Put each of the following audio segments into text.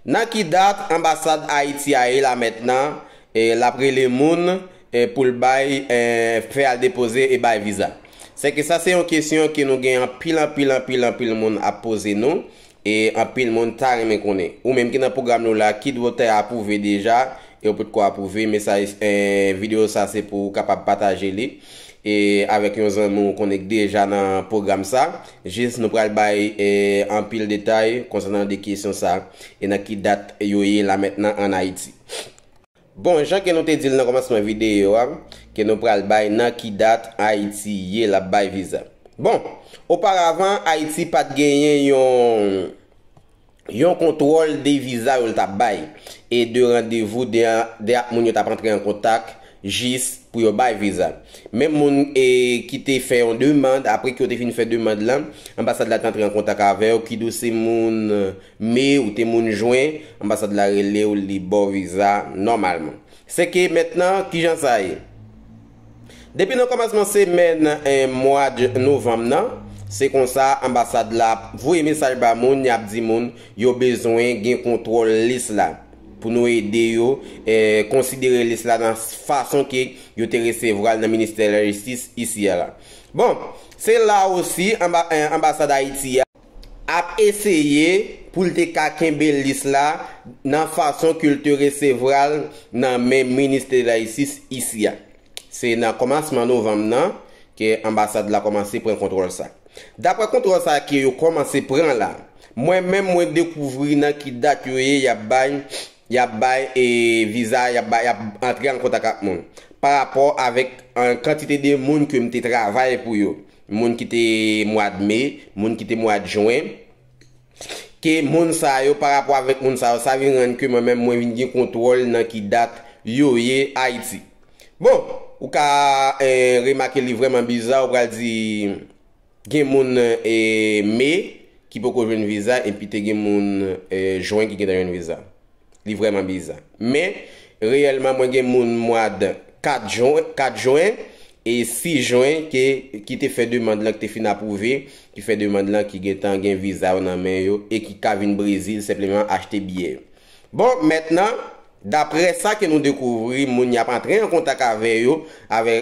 Nan ki dat anbasad Ayiti a ye la mètnan e lap rele moun e poul bay e fè al depoze e bay viza? Sèke sa se yon kesyon ke nou gen anpil anpil anpil anpil moun ap poze nou e anpil moun ta renmen konnen. Ou menm ki nan pwogram nou la ki dwe te apwouve deja e ou potko apwouve mesaj e video sa se pou ou kapab pataje li e avèk yon zanmi w konnen k deja nan pwogram sa, jis nou pral bay anpil detay konsènan 2 kesyon sa e nan ki dat yo ye la mentnan an Ayiti. Bon, jan ke nou te di l nan kòmansman videyo a, ke nou pral bay nan ki dat Ayiti ye l ap bay viza. Bon, oparavan Ayiti pa t genyen yon. Yon kontwòl de viza yo l t ap bay e de randevou de de ak moun yo t ap antre an kontak jis pou yo bay viza. Menm moun e ki te fè yon demand, apre ke yo te fin fè demand lan, anbasad la te antre an kontak avè w, kid ou se moun me ou te moun jwen, anbasad la rele w li ba w viza nòmalman. Sèke mentnan, kijan sa ye? Depi nan kòmansman semèn mwad novanm nan, se konsa anbasad la ap voye mesaj ba moun, y ap di moun yo bezwen gen kontwòl lis la, pou nou ede yo konsidere lis la nan fason ke yo te resevwa l nan ministè lajistis isi a la. Bon, se la osi anbasad Ayiti a. ap eseye pou l te ka kenbe lis la nan fason ke l te resevwa l nan men Minis de la Jistis isi a. Se nan kòmansman novanm nan ke anbasad la kòmanse pran kontwòl sa. Daprè kontwòl sa ke yo kòmanse pran la, mwen menm mwen dekouvri nan ki dat yo ye y ap bay y ap bay viza y ap bay y ap antre an kontak ak moun. Parapò avèk kantite de moun ke m te travay pou yo. moun ki te mwad me, moun ki te mwad jwen, ke moun sa yo, pa rapò avèk moun sa yo, sa vin rann ke mwen menm mwen vin gen kontwòl nan ki dat yo ye Ayiti. Bon, ou ka remake li vrèman biza, ou pral di gen moun me ki poko jwenn viza epi te gen moun jwen ki gentan jwenn viza. Li vrèman biza. Men, reyèlman mwen gen moun mwad 4 jwen, 4 jwen e 6 jwen ke, ki te fè demand lan ki te fin apwouve, ki fè demand lan ki gentan gen viza yo nan men yo e ki ka vin Brezil senpleman achte biyè yo. Bon, mètnan, daprè sa ke nou dekouvri, moun y ap antre an kontak avè yo, avè,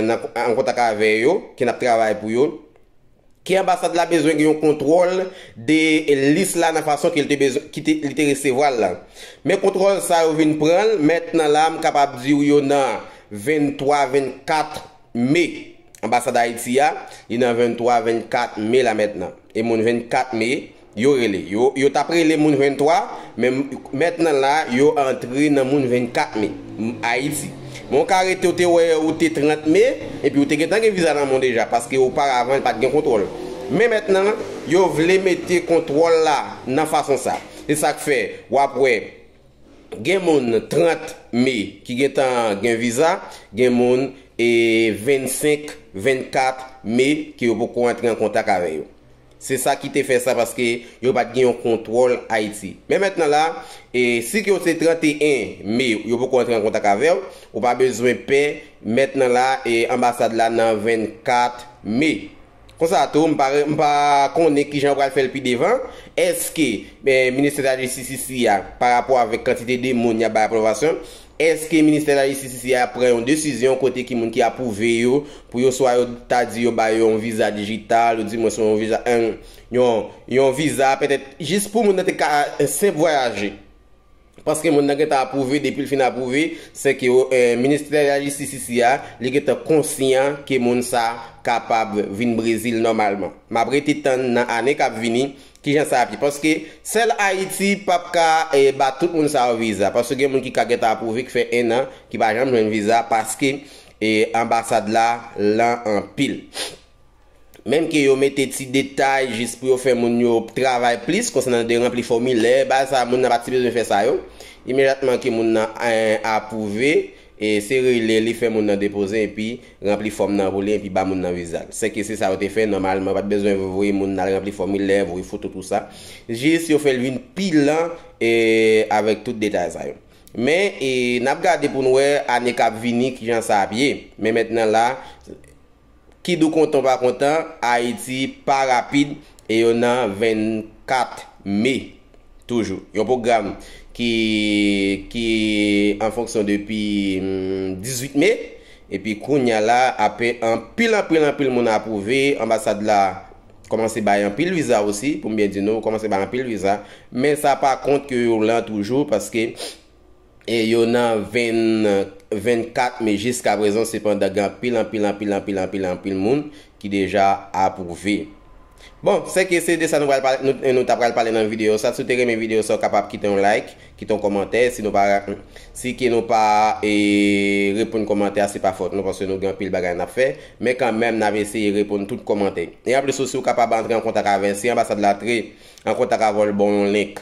nan, an kontak avè yo, ke n ap travay pou yo, Ke anbasad la bezwen gen yon kontwòl de lis la nan fason ke li te resevwa l lan. Men kontwòl sa yo vin pran l mètnan la m kapab di w yo nan 23, 24 me. Anbasad Ayiti a, li nan 23, 24 me la mètnan. E moun 24 me, Yo rele. Yo, yo t ap rele moun 23, men mètnan la, yo antre nan moun 24 me. M. Ayiti. Men w ka rete w te wè ou te 30 me, epi ou te gentan gen viza nan men w deja, paske oparavan pa t gen kontwòl. Men mètnan, yo vle mete kontwòl la nan fason sa. Se sa k fè w ap wè gen moun 30 me ki gentan gen viza, gen moun 25, 24 me ke yo poko antre an kontak avè yo. Se sa ki te fè sa paske yo pat gen yon kontwòl Ayiti. Men mentnan la, si ke w se 31 me yo poko antre an kontak avè w, ou pa bezwen pè, mentnan la anbasad la nan 24 me. Konsa tou, m pa konnen kijan yo pral fè l pi devan, èske ministè de la jistis isi a, pa rapò avèk kantite de moun y ap bay apwobasyon, Eske ministè lajistisisi a ap pran yon desizyon kote ki moun ki apwouve yo pou yo swa yo ta di yo ba yo yon viza dijital ou di mwens yon viza yon yon viza pètèt jis pou moun nan te ka senp vwayaje paske moun nan gentan apwouve depi l fin apwouve se ke ministè lajistisisi a li gentan konsyan ke moun sa kapab vin Brezil nòmalman m ap rete tann nan ane k ap vini Kijan sa ap ye? Paske sèl Ayiti pap ka ba tout moun sa yo viza. Paske gen moun ki ka gentan apwouve ki fè 1 an ki pa janm jwenn viza paske anbasad la lan anpil. Menm ke yo mete ti detay jis pou yo fè moun yo travay plis konsènan de ranpli fòmilè, bagay sa moun nan pa ti bezwen fè sa yo. Imejatman ke moun nan apwouve. E se rele li fè moun nan depoze epi ranpli fòm nan pou li epi ba moun nan viza l. Sèke se sa yo te fè, nòmalman yo pa t bezwen voye moun al ranpli fòmilè, voye foto tou sa. Jis yo fè l vin pi lan avèk tout detay sa yo. Men, n ap gade pou n wè ane k ap vini kijan sa ap ye. Men mentnan la. Kid ou kontan ou pa kontan, Ayiti pa rapid e yo nan 24 me toujou. Yon pwogram ki ki an fonksyon depi 18 me epi kounya la ape anpil anpil anpil moun apwouve, anbasad la kòmanse bay anpil viza osi, pou m byen di nou, kòmanse bay anpil viza, men sa pa kont ke yo lan toujou paske E yo nan 2024 me jiska prezan sepandan gen anpil anpil anpil anpil anpil anpil moun ki deja apwouve. Bon, se ke se de sa nou pral pale nou nou ta pral pale nan videyo sa. Si w te renmen videyo sa w kapab kite yon like, kite yon kòmantè. Si nou pa si ke nou pa e reponn kòmantè a se pa fòt nou paske nou gen anpil bagay n ap fè. Men kan menm n ap eseye reponn tout kòmantè. E anplis tou si w kapab antre an kontak avè si anbasad la tre an kontak avè w l ba w yon link